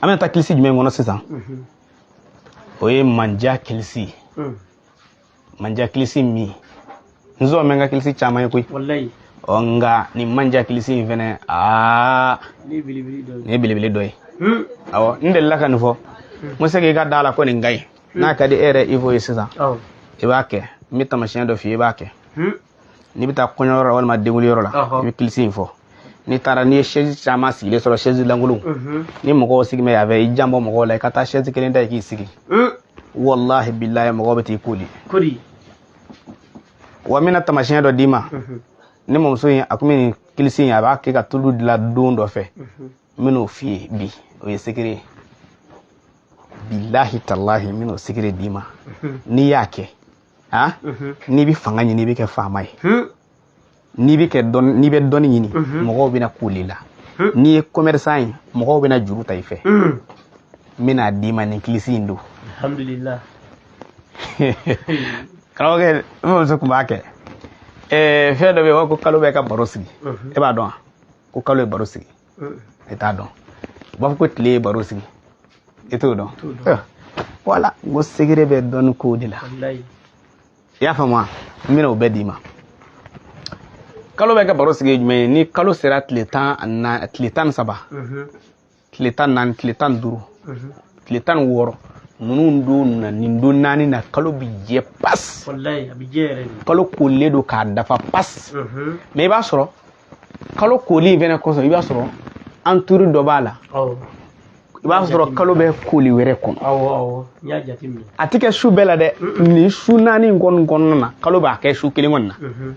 an bɛna taa kilisi jumɛn kɔnɔ sisan o ye manja kilisi manja kilisi min n zɔn bɛ n ka kilisi caman ye koyi ɔ nka nin manja kilisi in fɛnɛ aa nin ye belebele dɔ ye awɔ n delila ka nin fɔ n ko se k'i ka da la ko nin ka ɲi n'a ka di e yɛrɛ ivo ye sisan i b'a kɛ n bɛ tamasiyɛn dɔ f'i ye i b'a kɛ n'i bɛ taa kɔɲɔyɔrɔ la walima denwuliyɔrɔ la i bɛ kilisi in fɔ n'i taara n'i ye sɛzi caman sigilen sɔrɔ sɛzi lankolon mhm. ni mɔgɔw sigi bɛ yan fɛ i janbɔ mɔgɔw la i ka taa sɛzi kelen ta i k'i sigi mm. walahi bilahi mɔgɔw bɛ t'i koli wa n bɛna tamasiyɛn dɔ d'i ma mhm. ne mamuso in a tun bɛ nin kilisi in a b'a kɛ ka tulu dilan don dɔ fɛ mhm. n bɛn'o f'i ye bi o ye sekere ye bilahi talahi n bɛn'o sekere d'i ma n'i y'a kɛ a mhm. n'i bɛ fanga ɲini i bɛ kɛ faama ye hmm. n'i bɛ kɛ dɔn n'i bɛ dɔnni ɲini mhm. mɔgɔw bɛna koli i la hmm. n'i ye commerçant ye mɔgɔw bɛna juru ta i fɛ hmm. n bɛn'a d'i ma nin kilisi in don alhamdulilah karamɔgɔkɛ n mamuso tun b'a kɛ fɛn dɔ bɛ yen ko kalo bɛ ka baro sigi e b'a dɔn wa ko kalo ye baro sigi e t'a dɔn u b'a fɔ ko tile ye baro sigi e t'o dɔn wala n ko sekere bɛ dɔnni kow de la i y'a faamu wa n bɛna o bɛɛ d'i ma kalo bɛ ka baro sigi jumɛn ye ni kalo sera tile tan na tile tan ni saba tile tan ni naani tile tan ni duuru tile tan ni wɔɔrɔ ninnu don na nin don naani na kalo bi jɛ pas kalo kolen don k'a dafa pas mɛ i b'a sɔrɔ kalo koli in fɛnɛ kɔsɔn i b'a sɔrɔ entouré dɔ b'a la i b'a sɔrɔ kalo bɛ koli wɛrɛ kɔnɔ a tɛ kɛ su bɛɛ la dɛ nin su naani in kɔni kɔnɔna na kalo b'a kɛ su kelen kɔni na mhm.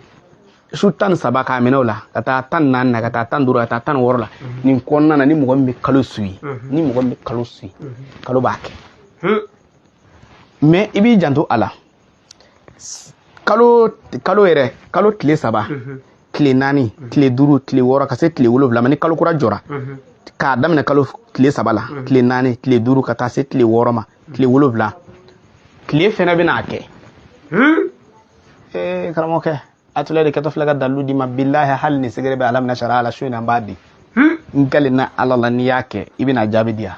su tan ni saba k'a minɛ o la ka taa tan ni naani na ka taa tan ni duuru ka taa tan ni wɔɔrɔ la mhm. nin kɔnɔna na ni mɔgɔ min bɛ kalo suivi mhm. ni mɔgɔ min bɛ kalo suivi kalo b'a kɛ mɛ i b'i janto a la kalo kalo yɛrɛ kalo tile saba mhm. tile naani mhm. tile duuru tile wɔɔrɔ ka se tile wolonwula ma ni kalo kura jɔra mhm. k'a daminɛ kalo tile saba la tile naani tile duuru ka taa se tile wɔɔrɔ ma tile wolonwula tile fɛnɛ bɛna a kɛ hmm? eh, karamɔgɔkɛ a tula de kɛtɔ filɛ ka dalilu d'i ma bilahi hali ni sekere bɛ ala minɛ sariya la su in na n b'a di hmm? n kalenna ala la n'i y'a kɛ i bɛna jaabi di yan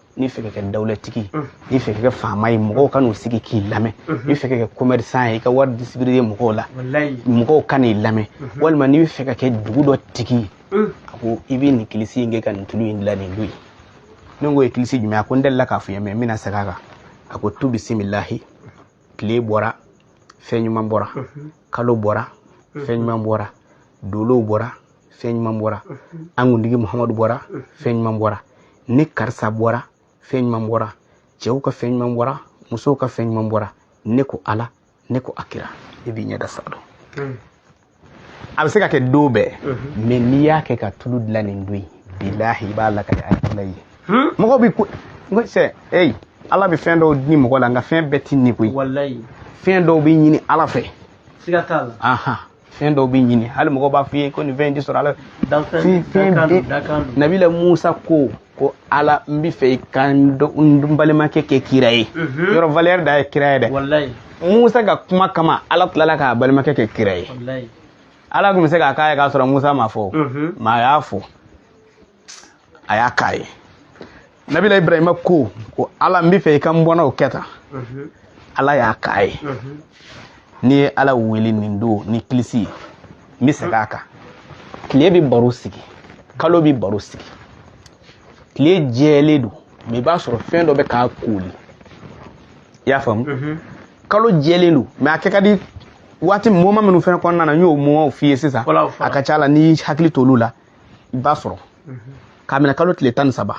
n'i fɛ ka kɛ dawulatigi n'i fɛ ka kɛ faama ye mɔgɔw ka n'u sigi k'i lamɛn n'i fɛ ka kɛ commerçant ye i ka wari distribuer mɔgɔw la mɔgɔw ka n'i lamɛn walima n'i bɛ fɛ ka kɛ dugu dɔ tigi ye a ko i bɛ nin kilisi in kɛ ka nin tulu in dilan nin don ye ne k'o ye kilisi jumɛn a ko n delila k'a f'i ye mɛ n bɛna segin a kan a ko tu bisimilahi tile bɔra fɛn ɲuman bɔra kalo bɔra fɛn ɲuman bɔra dolow bɔra fɛn ɲuman bɔra an kuntigi muhamadu bɔra fɛn ɲuman bɔra ni karisa bɔra fɛn ɲuman bɔra cɛw ka fɛn ɲuman bɔra musow ka fɛn ɲuman bɔra ne ko ala ne ko a kira i b'i ɲɛda sa dɔn hmm. a bɛ se ka kɛ don bɛɛ hmm. mɛ n'i y'a kɛ ka tulu dilan nin don ye bilahi i b'a lakali a tula ye hmm. mɔgɔw bɛ ko sɛ eyi ala bɛ fɛn dɔw di mɔgɔ la nka fɛn bɛɛ tɛ di koyi fɛn dɔw bɛ ɲini ala fɛ siga t'a la fɛn dɔw bɛ ɲini hali mɔgɔw b'a f'i ye ko nin fɛn in tɛ sɔrɔ ala fɛ fɛn bɛ nabila musa ko ko ala n bɛ fɛ i ka n balimakɛ kɛ kira ye mhm. yɔrɔ valeur dan ye kira ye dɛ musa ka kuma kama ala tilala k'a balimakɛ kɛ kira ye ala tun bɛ se k'a k'a ye k'a sɔrɔ musa m'a fɔ mhm. mɛ a y'a fɔ a y'a k'a ye nabila ibrahima ko ko ala n bɛ fɛ i ka n bɔnnaw kɛ tan ala y'a k'a ye n'i ye ala wele nin don ni kilisi ye n bɛ segin a kan tile bɛ baro sigi kalo bɛ baro sigi tile jɛlen don mɛ i b'a sɔrɔ fɛn dɔ bɛ k'a kooli i y'a faamu kalo jɛlen don mɛ a kɛ ka di waati moma minnu fɛnɛ kɔnɔna na n y'o momaw f'i ye sisan a ka ca la n'i hakili t'olu la i b'a sɔrɔ k'a minɛ kalo tile tan ni saba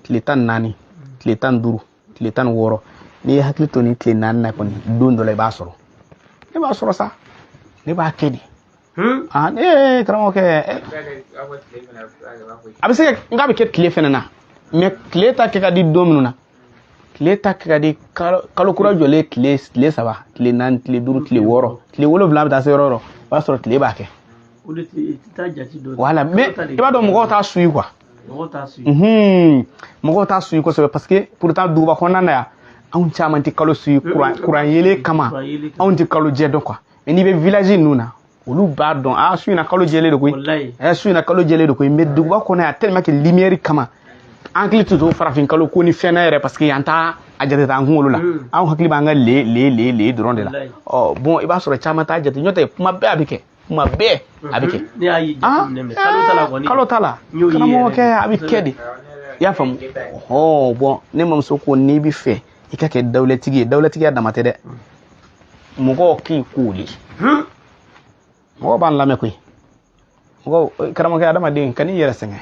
tile tan ni naani tile tan ni duuru tile tan ni wɔɔrɔ n'i y'i hakili to nin tile naani na kɔni don dɔ la i b'a sɔrɔ ne b'a sɔrɔ sa ne b'a kɛ de ee karamɔgɔkɛ a bɛ se ka nk'a bɛ kɛ tile fɛnɛ na mɛ tile ta kɛ ka di don minnu na tile ta kɛ ka di kalo kura jɔlen tile tile saba tile naani tile duuru tile wɔɔrɔ tile wolonwula bɛ taa se yɔrɔ yɔrɔ o b'a sɔrɔ tile b'a kɛ wala mɛ i b'a dɔn mɔgɔw t'a suivi kuwa mɔgɔw t'a suivi kosɛbɛ parce que pourtant duguba kɔnɔna na yan anw caman tɛ kalo suivi kuran yeelen kama anw tɛ kalo jɛ dɔn kuwa mɛ n'i bɛ village ninnu na olu b'a dɔn a ah, su in na kalo jɛlen de koyi ɛ eh, su in na kalo jɛlen de koyi mɛ duguba kɔnɔ yan tellement que lumière kama an hakili tɛ to farafin kalo ko ni fɛn na yɛrɛ parce que yan t'a a jate t'an kunkolo la hmm. anw hakili b'an ka le le le le dɔrɔn de la ɔ bɔn i b'a sɔrɔ caman t'a jate nɔntɛ kuma bɛɛ a bɛ kɛ kuma bɛɛ a bɛ kɛ kalo ta la karamɔgɔkɛ a bɛ kɛ de i y'a faamu ɔ bɔn ne mamuso ko n'i bɛ fɛ i ka kɛ dawulatigi ye dawulatigiya dama tɛ dɛ mɔgɔw k'i kooli mɔgɔw b'an lamɛn koyi mɔgɔw karamɔgɔkɛ adamaden kan'i yɛrɛ sɛgɛn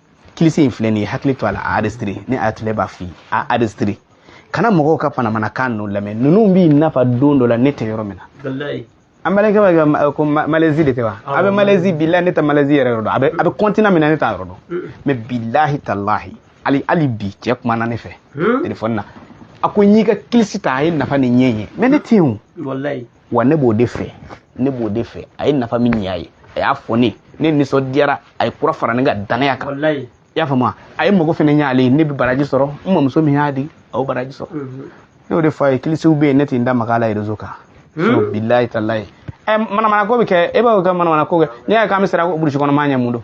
kilisi in filɛ nin ye hakili to a la a enregistré ne a tile b'a f'i ye a enregistré kana mɔgɔw ka manamanakan ninnu lamɛn ninnu b'i nafa don dɔ la ne tɛ yɔrɔ min na an balimakɛ b'a kɛ ko malɛzi de tɛ wa a bɛ malɛzi bilahi ne tɛ malɛzi yɛrɛ yɔrɔ dɔn a bɛ a bɛ kɔntina min na ne t'a yɔrɔ dɔn mɛ bilahi talahi hali hali bi cɛ kumana ne fɛ telefɔni na a ko n y'i ka kilisi ta a ye nafa ni ɲɛ ye mɛ ne tɛ yen o wa ne b'o de fɛ a ye nafa min ɲ'a ye a y'a fɔ ne ne nisɔndiyara a ye kura fara ne ka danaya kan i y'a faamuya a ye mago fana ɲ'ale ye ne bɛ baraji sɔrɔ n mamuso min y'a di a y'o baraji sɔrɔ mhm. ne y'o de fɔ a ye kilisiw bɛ yen ne tɛ n da maga a la rezo kan hmm? bilayi talayi ɛ eh, manamanako bɛ kɛ e b'a fɔ ka manamanako kɛ n'i y'a ye k'an bɛ siran burusi kɔnɔ maa ɲɛ mun don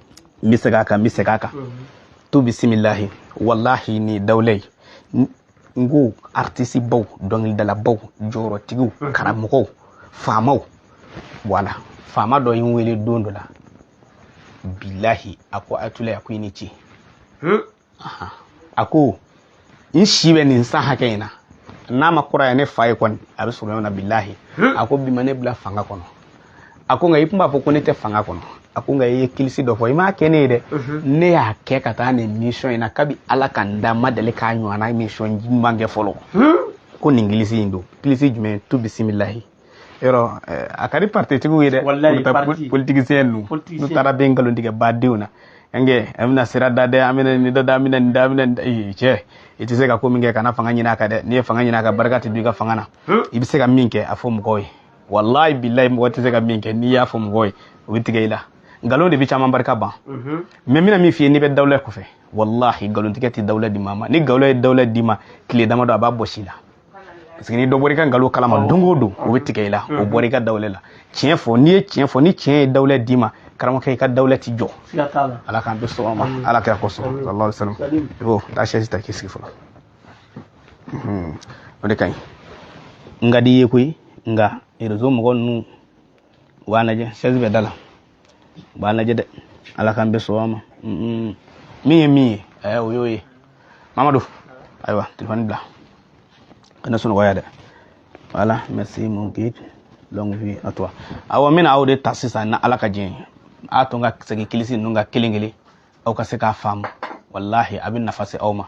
n bɛ segin a kan n bɛ segin a kan tu bisimilahi walahi ni dawulɛ ye n ko artisibaw dɔnkilidalabaw jɔyɔrɔtigiw karamɔgɔw faamaw voilà faama dɔ ye n wele don dɔ la bilahi a ko atula a ko i ni ce a ko n si bɛ nin san hakɛ in na n'a ma kɔrɔya ne fa ye kɔni a bɛ sɔrɔ ɲɔgɔn na bilahi a ko bi ma ne bila fanga kɔnɔ a ko nka i tun b'a fɔ ko ne tɛ fanga kɔnɔ a ko nka i ye kilisi dɔ fɔ i m'a kɛ ne ye dɛ ne y'a kɛ ka taa nin mission in na kabi ala ka n da n ma deli k'a ɲɔgɔnna mission ɲuman kɛ fɔlɔ ko nin kilisi in don kilisi jumɛn tu bisimilahi yɔrɔ eh, a ka di partitigiw ye dɛ politicien ninnu n'u taara bɛ nkalon tigɛ badenw na ɛnkɛ an bɛna sira da dɛ an bɛna nin da dɛ an bɛna nin da an bɛna nin cɛ i tɛ se ka ko min kɛ kana fanga ɲini a kan dɛ n'i ye fanga ɲini a kan barika tɛ don i ka fanga na i bɛ se ka min kɛ a fɔ mɔgɔw ye walayi bilayi mɔgɔ tɛ se ka min kɛ n'i y'a fɔ mɔgɔw ye o bɛ tigɛ i la nkalon de bɛ caman barika ban mais n bɛna min f'i ye n'i bɛ dawulɛ kɔfɛ walahi nkalontigɛ tɛ dawulɛ di maa ma ni nkalon ye dawulɛ d'i ma tile damadɔ a b'a bɔsi i la parce que ni dɔ bɔra i ka nkalon kalama don o don o bɛ tigɛ i la o bɔra i ka dawlɛ la tiɲɛ fɔ n'i ye tiɲɛ fɔ ni tiɲɛ ye dawlɛ d'i ma karamɔgɔkɛ i ka dawlɛ ti jɔ ala k'an bɛɛ sɔn a ma ala kira kosɔn sallallahu alaihi wasallam i b'o taa sɛsi ta k'i sigi fɔlɔ o de ka ɲi n ka di i ye koyi nka rezo mɔgɔ ninnu u b'a lajɛ sɛsi bɛ da la u b'a lajɛ dɛ ala k'an bɛɛ sɔn a ma min ye min ye ɛɛ o y'o ye mamadu ayiwa telefɔni bila kana sunɔgɔ yan dɛ voilà merci mon guide longue vie à toi awɔ n bɛna aw de ta sisan na ala ka diɲɛ ye a to n ka segin kilisi ninnu kan kelen kelen aw ka se k'a faamu walahi a bɛ nafa se aw ma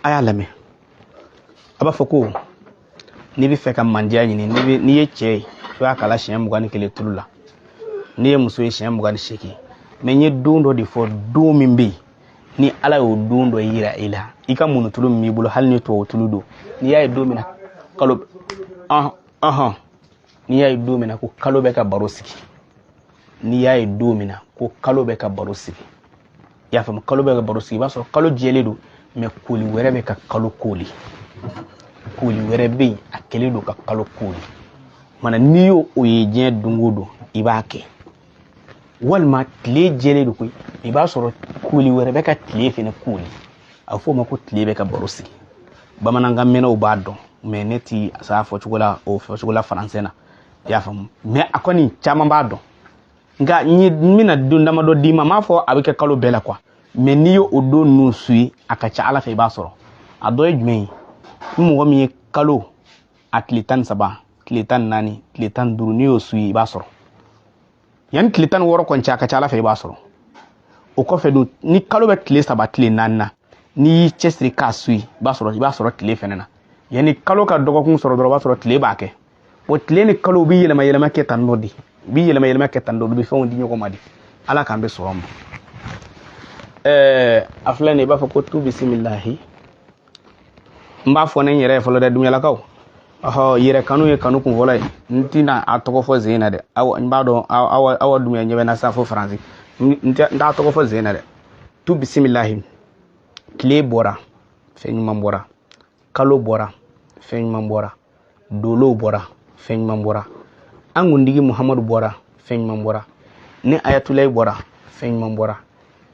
a y'a lamɛn a b'a fɔ ko n'i bɛ fɛ ka mandiya ɲini n'i ye cɛ ye i b'a kalan siɲɛ mugan ni kelen tulu la n'i ye muso ye siɲɛ mugan ni seegin mais n ye don dɔ de fɔ don min bɛ yen ni ala y'o don dɔ yira i la i ka munutulu min b'i bolo hali ni tubabu tulu don n'i y'a ye don min na kalo ɔhɔn n'i y'a ye don min na ko kalo bɛ ka baro sigi n'i y'a ye don min na ko kalo bɛ ka baro sigi i y'a faamu kalo bɛ ka baro sigi i b'a sɔrɔ kalo jɛlen don mais kooli wɛrɛ bɛ ka kalo kooli kooli wɛrɛ bɛ yen a kɛlen don ka kalo kooli mana n'i y'o o ye diɲɛ don o don i b'a kɛ walima tile jɛlen don koyi i b'a sɔrɔ koli wɛrɛ bɛ ka tile fɛnɛ koli a bɛ f'o ma ko tile bɛ ka baro sigi bamanankan mɛnnaw b'a dɔn mais ne ti s'a fɔcogo la o fɔcogo la français na i y'a faamu mais a kɔni caman b'a dɔn nka n bɛna don damadɔ d'i ma n m'a fɔ a bɛ kɛ kalo bɛɛ la quoi mais n'i y'o o don ninnu su ye a ka ca ala fɛ i b'a sɔrɔ a dɔ ye jumɛn ye ni mɔgɔ min ye kalo a tile tan ni saba tile tan ni naani tile tan ni duuru n'i y'o su ye i b'a sɔrɔ yanni tile tan ni wɔɔrɔ kɔni cɛ a ka ca ala fɛ i b'a sɔrɔ o kɔfɛ dun ni kalo bɛ tile saba tile naani na n'i y'i cɛsiri k'a su ye i b'a sɔrɔ i b'a sɔrɔ tile fɛnɛ na yanni kalo ka dɔgɔkun sɔrɔ dɔrɔn o b'a sɔrɔ tile b'a kɛ o tile ni kalo u bɛ yɛlɛma yɛlɛma kɛ tan nɔ de u bɛ yɛlɛma yɛlɛma kɛ tan nɔ u bɛ fɛnw di ɲɔgɔn ma de ala k'an bɛɛ sɔrɔ ma ɛɛ a filɛ nin ye i b'a fɔ ko tu bisimilahi n b'a fɔ ne n yɛrɛ ye fɔlɔ dɛ dunyalakaw ɔhɔ yɛrɛ kanu ye kanu kun fɔlɔ ye n tɛna a tɔgɔ fɔ chaîne na dɛ aw n b'a dɔn aw aw dunya ɲɛ bɛ na sa fo faransi n t'a tɔgɔ fɔ chaîne na dɛ tu bisimilahi tile bɔra fɛn ɲuman bɔra kalo bɔra fɛn ɲuman bɔra dolow bɔra fɛn ɲuman bɔra an kuntigi muhamadu bɔra fɛn ɲuman bɔra ne ayatulayi bɔra fɛn ɲuman bɔra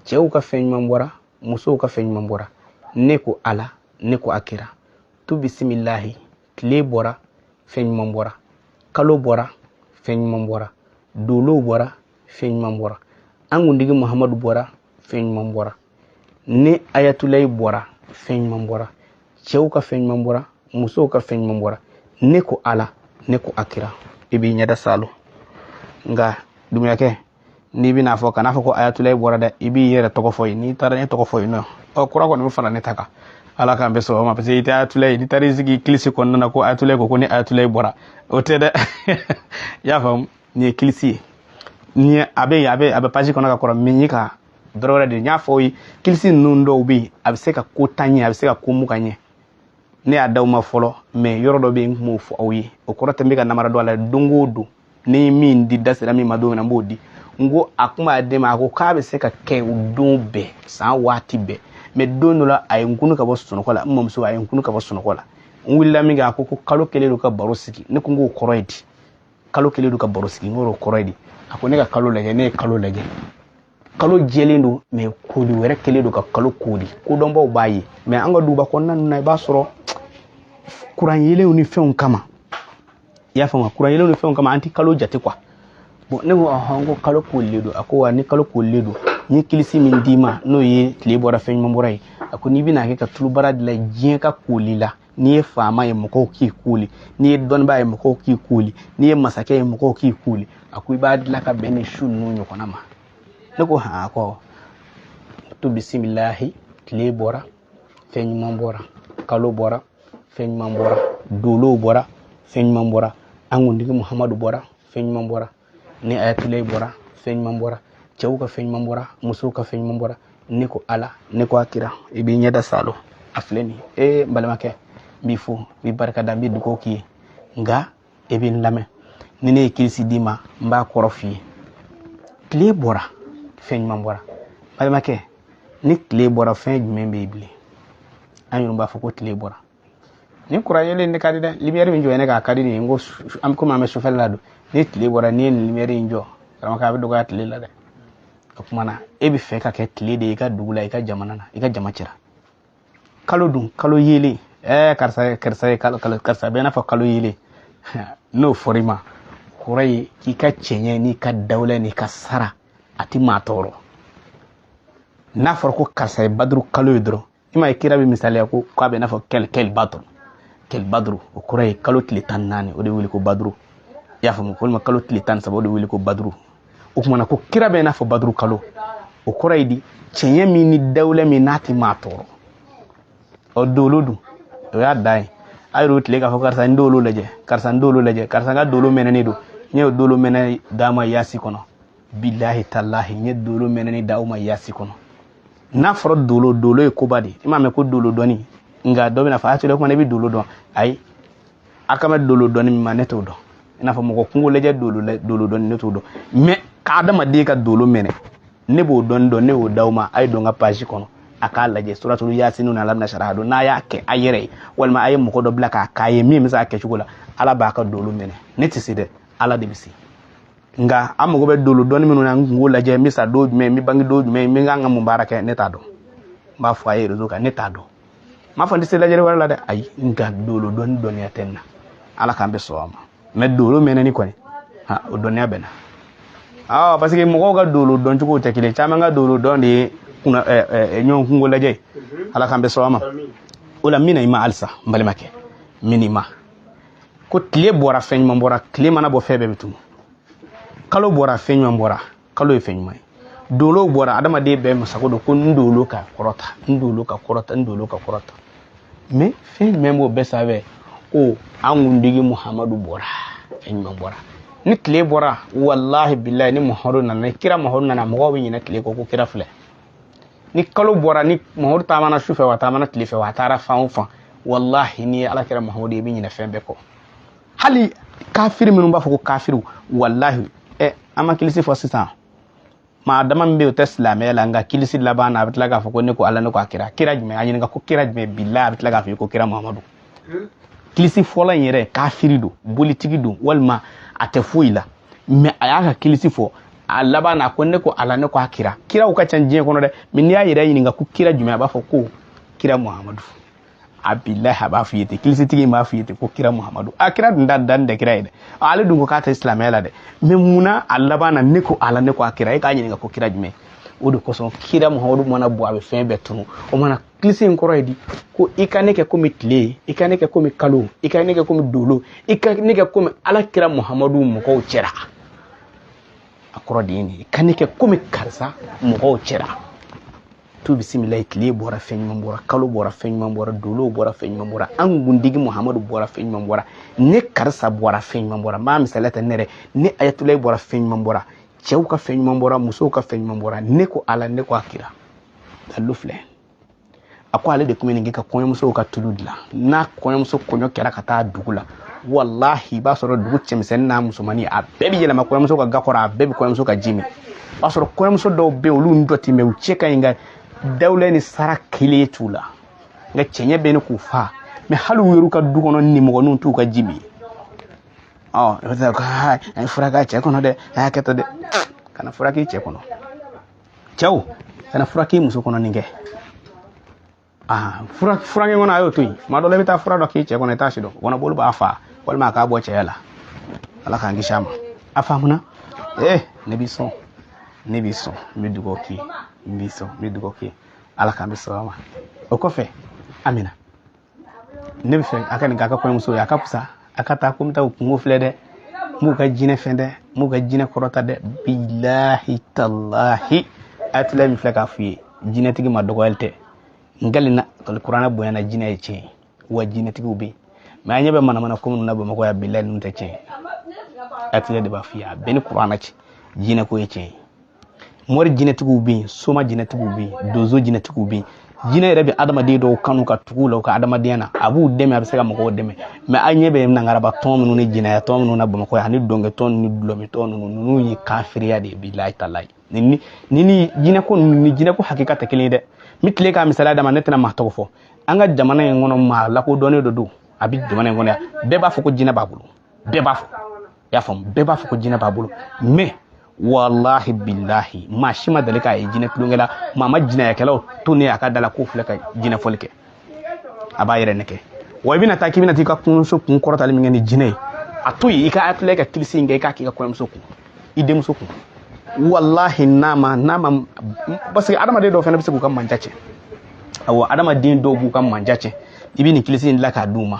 cɛw ka fɛn ɲuman bɔra musow ka fɛn ɲuman bɔra ne ko ala ne ko a kira tu bisimilahi tile bɔra fɛn ɲuman bɔra kalo bɔra fɛn ɲuman bɔra dolow bɔra fɛn ɲuman bɔra an kuntigi muhamadu bɔra fɛn ɲuman bɔra ne ayatulayi bɔra fɛn ɲuman bɔra cɛw ka fɛn ɲuman bɔra musow ka fɛn ɲuman bɔra ne ko ala ne ko a kira i b'i ɲɛda salo nka dunyakɛ n'i bɛna fɔ kana fɔ ko ayatulayi bɔra dɛ i b'i yɛrɛ tɔgɔ fɔ yen n'i taara ne tɔgɔ fɔ yen nɔɔrɔ kura kɔni bɛ fara ne ta kan ala k'an bɛɛ sɔrɔ ma parce que i tɛ ayatulayi n'i taara i sigi kilisi kɔnɔna na ko ayatulayi ko ko ne ayatulayi bɔra o tɛ dɛ i y'a faamu nin ye kilisi ye nin ye a bɛ yen a bɛ a bɛ page kɔnɔ ka kɔrɔ min ye ka dɔrɔ wɛrɛ de n y'a fɔ aw ye kilisi ninnu dɔw bɛ yen a bɛ se ka ko tan ɲɛ a bɛ se ka ko mugan ɲɛ ne y'a da aw ma fɔlɔ mais yɔrɔ dɔ bɛ yen n tun b'o fɔ aw ye o kɔrɔ tɛ n bɛ ka namara don a la don o don ni min di da sera min ma don min na n b'o di n ko a kun b'a den ma a ko k'a bɛ se ka kɛ o don bɛɛ san waati bɛɛ mais don dɔ la a ye n kunun ka bɔ sunɔgɔ la n mamuso a ye n kunun ka bɔ sunɔgɔ la n wulila min kɛ a ko ko kalo kɛlen don ka baro sigi ne ko n k'o kɔrɔ ye di kalo kɛlen don ka baro sigi n k'o kɔrɔ ye di a ko ne ka kalo lajɛ ne ye kalo lajɛ kalo jɛlen don mais koli wɛrɛ kɛlen don ka kalo koli kodɔnbaw b'a ye mais an ka duguba kɔnɔna ninnu na i b'a sɔrɔ kuran yeelenw ni fɛnw kama i y'a faamuya kuran yeelenw ni fɛnw kama an tɛ kalo jate quoi bon ne ko ɔhɔn ko kalo kolilen don a ko wa ni kalo kolilen don n ye kilisi min d'i ma n'o ye tile bɔra fɛn ɲuman bɔra ye a ko n'i bɛna kɛ ka tulubara dilan diɲɛ ka koli la n'i ye faama ye mɔgɔw k'i kooli n'i ye dɔnnibaa ye mɔgɔw k'i kooli n'i ye masakɛ ye mɔgɔw k'i kooli a ko i b'a dilan ka bɛn ni su ninnu ɲɔgɔnna ma ne ko han ko tu bisimilahi tile bɔra fɛn ɲuman bɔra kalo bɔra fɛn ɲuman bɔra dolow bɔra fɛn ɲuman bɔra an kuntigi muhamadu bɔra fɛn ɲuman bɔra ni ayatulayi bɔra fɛn ɲuman bɔra cɛw ka fɛn ɲuman bɔra musow ka fɛn ɲuman bɔra ne ko ala ne ko a kira i b'i ɲɛda salo a filɛ nin ye n balimakɛ n b'i fo n b'i barika da n b'i dugawu k'i ye nka i bɛ n lamɛn ni ne ye kirisi d'i ma n b'a kɔrɔ f'i ye tile bɔra fɛn ɲuman bɔra balimakɛ ni tile bɔra fɛn jumɛn bɛ yen bilen an yɛrɛ b'a fɔ ko tile bɔra nin kuran yelen nin ka di dɛ limiyɛri min jɔ ne k'a ka di nin ye n ko an bɛ komi an bɛ sufɛla la don ni tile bɔra n'i ye nin limiyɛri in jɔ karamɔgɔ a bɛ dɔgɔya tile la dɛ o kuma na e bɛ fɛ ka kɛ tile de ye i ka dugu la i ka jamana na i ka jama cɛra kalo dun kalo yelen ɛɛ eh, karisa karisa ye kalo kalo karisa bɛ i n'a fɔ kalo yelen n'o fɔra i ma kɔrɔ ye k'i ka cɛɲɛ n'i ka dawula n'i ka sara a tɛ maa tɔɔrɔ n'a fɔra ko karisa ye baduru kalo ye dɔrɔn i ma ye kira bɛ misaliya ko k'a bɛ n'a fɔ kali kali baduru kali baduru o kɔrɔ ye kalo tile tan naani o de wele ko baduru i y'a faamu walima kalo tile tan saba o de wele ko baduru o kuma na ko kira bɛ n'a fɔ baduru kalo o kɔrɔ ye di cɛɲɛ min ni dawula min n'a tɛ maa tɔɔrɔ ɔ dolo dun o y'a dan ye a y'o tile k'a fɔ karisa n dolo lajɛ karisa n dolo lajɛ karisa n ka dolo mɛnɛnen don n ye dolo mɛnɛ d'a ma yasin kɔnɔ bilahi talahi n ye dolo mɛnɛni d'aw ma yasin kɔnɔ n'a fɔra dolo dolo ye koba de i m'a mɛn ko dolo dɔnni nka dɔ bɛna fɔ a tora kuma ne bɛ dolo dɔn ayi a kan bɛ dolo dɔnni min ma ne t'o dɔn i n'a fɔ mɔgɔ kunko lajɛ dolo dolo dɔnni ne t'o dɔn mɛ ka adamaden ka dolo mɛnɛ ne b'o dɔnni dɔn ne y'o d'aw ma a ye don n ka page kɔnɔ a k'a lajɛ suratulu yasinu na alamina sara don n'a y'a kɛ a yɛrɛ ye walima a ye mɔgɔ dɔ bila k'a k'a ye min bɛ se a kɛcogo la ala b'a ka dolo mɛnɛ ne tɛ se dɛ ala de bɛ se nka a mago bɛ dolo dɔnni minnu na n kunko lajɛ n bɛ sa don jumɛn n bɛ bange don jumɛn n bɛ kan ka mun baara kɛ ne t'a dɔn n b'a fɔ a ye rezo kan ne t'a dɔn n m'a fɔ n tɛ se lajɛli wɛrɛ la dɛ ayi nka dolo dɔnni dɔnniya tɛ n na ala k'an bɛɛ sɔn a ma mɛ dolo mɛnɛni kɔni ha o dɔnniya bɛ n na awɔ parce que mɔgɔw ka dolo dɔn cogo tɛ kelen caman ka dolo dɔn de ye k'u na ɲɔgɔn kunko lajɛ ala k'an bɛɛ sɔn a ma o la n bɛna i ma halisa n balimakɛ n bɛna i ma ko tile bɔra fɛn ɲuman bɔra tile mana bɔ fɛn bɛɛ bɛ tunun kalo bɔra fɛn ɲuman bɔra kalo ye fɛn ɲuman ye dolo bɔra adamaden bɛɛ masago don ko n dolo ka kɔrɔta n dolo ka kɔrɔta n dolo ka kɔrɔta mɛ fɛn jumɛn b'o bɛɛ sanfɛ ko an kuntigi muhamadu bɔra fɛn ɲuman bɔra ni tile bɔra walahi bilayi ni muhamadu nana ni kira muhamadu nana mɔgɔw bɛ ɲinɛ tile kɔ ko kira filɛ ni kalo bɔra ni muhamadu taamana su fɛ wa taamana tile fɛ wa a taara fan o fan walahi n'i ye ala kira muhamadu ye i bɛ ɲinɛ fɛn bɛɛ kɔ hali kafiri minnu b'a fɔ ko kafiriw walahi ɛ an ma kilisi fɔ sisan maa dama min bɛ yen o tɛ silamɛya la nka kilisi laban na a bɛ tila k'a fɔ ko ne ko ala ne ko a kira kira jumɛn a ɲininka ko kira jumɛn bilahi a bɛ tila k'a fɔ i ko kira muhamadu kilisi fɔla in yɛrɛ kafiri don bolitigi don walima a tɛ foyi la mɛ a y'a ka kilisi fɔ a laban na ko ne ko ala ne ko a kira kiraw ka ca diɲɛ kɔnɔ dɛ mɛ n'i y'a yɛrɛ ɲininka ko kira jumɛn a b'a fɔ ko kira muhamadu a bilahi a b'a f'i ye ten kilisitigi in b'a f'i ye ten ko kira muhamadu a kira dun da dan tɛ kira ye dɛ ale dun ko k'a tɛ silamɛya la dɛ mɛ munna a laban na ne ko ala ne ko a kira e k'a ɲininka ko kira jumɛn o de kosɔn kira muhamadu mana bɔ a bɛ fɛn bɛɛ tunu o mana kilisi in kɔrɔ ye di ko i ka ne kɛ komi tile i ka ne kɛ komi kalo i ka ne kɛ komi dolo i ka ne kɛ komi ala kira muhamadu mɔgɔw cɛra a kɔrɔ de ye nin i ka ne kɛ komi karisa mɔgɔw cɛra tu bisimilayi tile bɔra fɛn ɲuman bɔra kalo bɔra fɛn ɲuman bɔra dolow bɔra fɛn ɲuman bɔra an kuntigi muhamadu bɔra fɛn ɲuman bɔra ne karisa bɔra fɛn ɲuman bɔra n b'a misaliya ta ne yɛrɛ ne ayatulayi bɔra fɛn ɲuman bɔra cɛw ka fɛn ɲuman bɔra musow ka fɛn ɲuman bɔra ne ko ala ne ko a kira dalilu filɛ a ko ale de tun bɛ nin kɛ ka kɔɲɔmusow ka tulu dilan n'a kɔɲɔmuso kɔɲɔ kɛra ka taa dugu la walahi i b'a sɔrɔ dugu cɛmisɛnnin n'a musomannin a bɛɛ bɛ yɛlɛma kɔɲɔmuso ka ga kɔrɔ a bɛɛ bɛ kɔɲɔmuso ka ji min o b'a sɔrɔ kɔɲɔmuso dɔw bɛ yen olu ni dɔ tɛ mɛ u cɛ ka ɲi nka dawula ni sara kelen t'u la nka cɛɲɛ bɛ ɲini k'u fa mɛ hali u yɛrɛ ka du kɔnɔ nimɔgɔninw t'u ka ji min ɔ i bɛ taa ko a ye fura k'a cɛ kɔnɔ dɛ a ye hakɛ to dɛ kana fura k'i cɛ kɔnɔ cɛw kana fura k'i muso kɔnɔ nin kɛ furakɛ kɔnɔ a y'o to yen tuma dɔ la i bɛ taa fura dɔ k'i cɛ kɔnɔ i t'a si dɔn kɔnɔboli b'a fa walima a k'a bɔ cɛya la ala k'an kisi a ma a faamuna ee ne b'i sɔn ne b'i sɔn n bɛ dugawu k'i ye n b'i sɔn n bɛ dugawu k'i ye ala k'an bɛɛ sɔn a ma o kɔfɛ amina ne b'a fɛ a ka nin k'a ka kɔɲɔmuso ye a ka fisa a ka taa ko n bɛ taa u kunko filɛ dɛ n b'u ka jinɛ fɛn dɛ n b'u ka jinɛ kɔrɔta dɛ bilahi talahi a tila min filɛ k'a f'u ye jinɛtigi ma dɔgɔyali tɛ n kalen na kuranɛ bonya na jinɛ ye tiɲɛ wa jinɛtigiw bɛ yen mɛ an ɲɛ bɛ manamana ko minnu na bamakɔ yan bilahi ninnu tɛ tiɲɛ a tila de b'a f'i ye a bɛɛ ni kuranɛ cɛ jinɛko ye tiɲɛ ye mori jinɛtigiw bɛ yen soma jinɛtigiw bɛ yen donso jinɛtigiw bɛ yen jinɛ yɛrɛ bɛ adamaden dɔw kanu ka tugu u la u ka adamadenya na a b'u dɛmɛ a bɛ se ka mɔgɔw dɛmɛ mɛ an ɲɛ bɛ nangaraba tɔn minnu ni jinɛya tɔn minnu na bamakɔ yan ani dɔnkɛtɔn ni dɔlɔmintɔn ninnu ninnu ye kafiriya de ye bilahi talahi ni ni ni jinɛko ninnu ni jinɛko hakika tɛ kelen ye dɛ n bɛ tila k'a misaliya d'a ma ne tɛna maa tɔgɔ fɔ an ka jamana in kɔnɔ maa lakodɔnnen dɔ don a bɛ jamana in kɔnɔ yan bɛɛ b'a fɔ ko jinɛ b'a bolo bɛɛ b'a fɔ i y'a faamu bɛɛ b'a fɔ ko jinɛ b'a bolo mais walahi bilahi maa si ma deli k'a ye jinɛ tulonkɛ la maa ma jinɛyakɛlaw to ne a ka da la k'o filɛ ka jinɛfɔli kɛ a b'a yɛrɛ nɛgɛ wa i bɛna taa k'i bɛna t'i ka kɔɲɔmuso kun kɔrɔtali min kɛ ni jinɛ ye a to yen i ka atulɛ ka kilisi in kɛ i k'a k'i ka kɔɲɔmuso kun i denmuso kun walahi n'a ma n'a ma parce que adamaden dɔw fana bɛ se k'u ka mandiya cɛn awɔ adamaden dɔw b'u ka mandiya cɛn i bɛ nin kilisi in dilan k'a d'u ma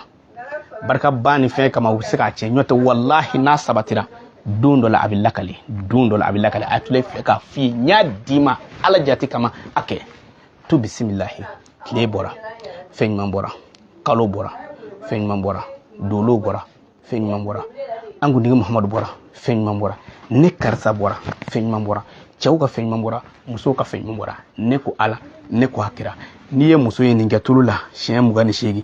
barika ba ni fɛn kama u bɛ se k'a cɛn ɲɔtɛ walahi n'a sabatira don dɔ la a bɛ lakale don dɔ la a bɛ lakale atulɛ k'a f'i ye n y'a d'i ma ala jate kama a kɛ to bisimilahi tile bɔra fɛn ɲuman bɔra kalo bɔra fɛn ɲuman bɔra dolo bɔra fɛn ɲuman bɔra an kuntigi muhamadu bɔra fɛn ɲuman bɔra ne karisa bɔra fɛn ɲuman bɔra cɛw ka fɛn ɲuman bɔra musow ka fɛn ɲuman bɔra ne ko ala ne ko a kira n'i ye muso ye nin kɛ tulu la siɲɛ mugan ni seegin